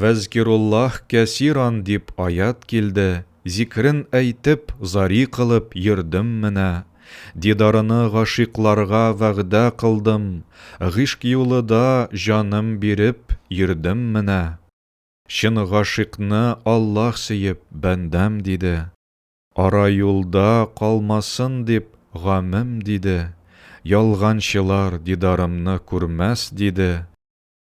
Вәзкируллаһ кәсиран дип аять килде, зикрен әйтеп, зари кылып йөрдем менә. Дидарыны гашыйкларга вәгъдә кылдым, гыйшк юлы да җаным биреп йөрдем менә. Чын гашыйкны Аллаһ сөеп, бәндәм диде. Ара юлда калмасын дип гамем диде, ялганчылар дидарымны күрмәс диде.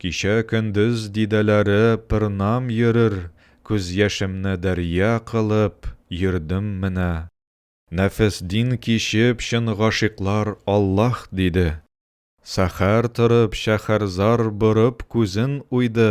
Кичә көндез дидәләре пырнам йөрер Күз яшемне дәрья кылып йөрдем менә. Нәфес дин кичеп чын гашыйклар Аллаһ диде. Сәхәр торып шәхәрзар борып күзен уйды.